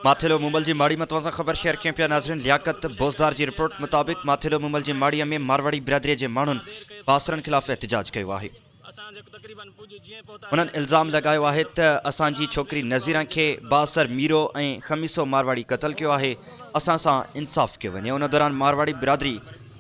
ماٿيلو مومل جي ماڙي مان توهان سان خبر شيئر ڪيون پيا ناظرين لياقت بوزدار جي رپورٽ مطابق ماٿيلو مومل جي ماڙي ۾ مارواڙي برادري جي ماڻهن باسرن خلاف احتجاج ڪيو آهي انهن الزام لڳايو آهي ته اسان جي ڇوڪري نظيران کي باسر ميرو ۽ خميسو مارواڙي قتل ڪيو آهي اسان سان انصاف ڪيو وڃي ان دوران مارواڙي برادري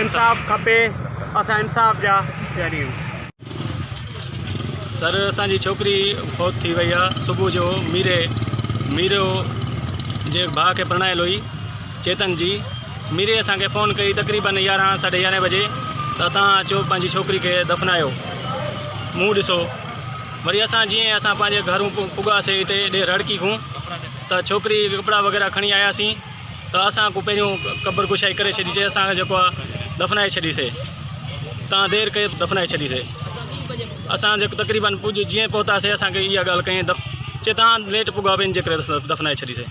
انصاف کپي اسان انصاف جا پياريون. سر اسان جي ڇوڪري فوت ٿي وئي آ صبح جو ميري ميرو جي ڀاء کي پرڻايل هئي چيتن جي ميري اسان کي فون ڪئي تقريبن يارهن ساڍي يارهن بجي ته تان اچو پنهنجي ڇوڪري کي دفنايو منهن ڏسو وري اسان جيئن اسان پنهنجي گهرون پڳاسي هتي ڏي رڙڪي کون ته ڇوڪري ڪپڙا وغيره کڻي آياسين ته اسان ڪو پهريون قبر ڪشائي ڪري ڇڏيسي اسان کي جيڪو آهي دفنائي ڇڏيسي تان دير ڪئي دفنائي ڇڏيسي اسان جيڪو تقريبن پڄ جيئن پهتاسي اسانکي اها ڳالهه ڪئي دف چي تان ليٽ پڳا ٻين جي ڪري دفنائي ڇڏيسي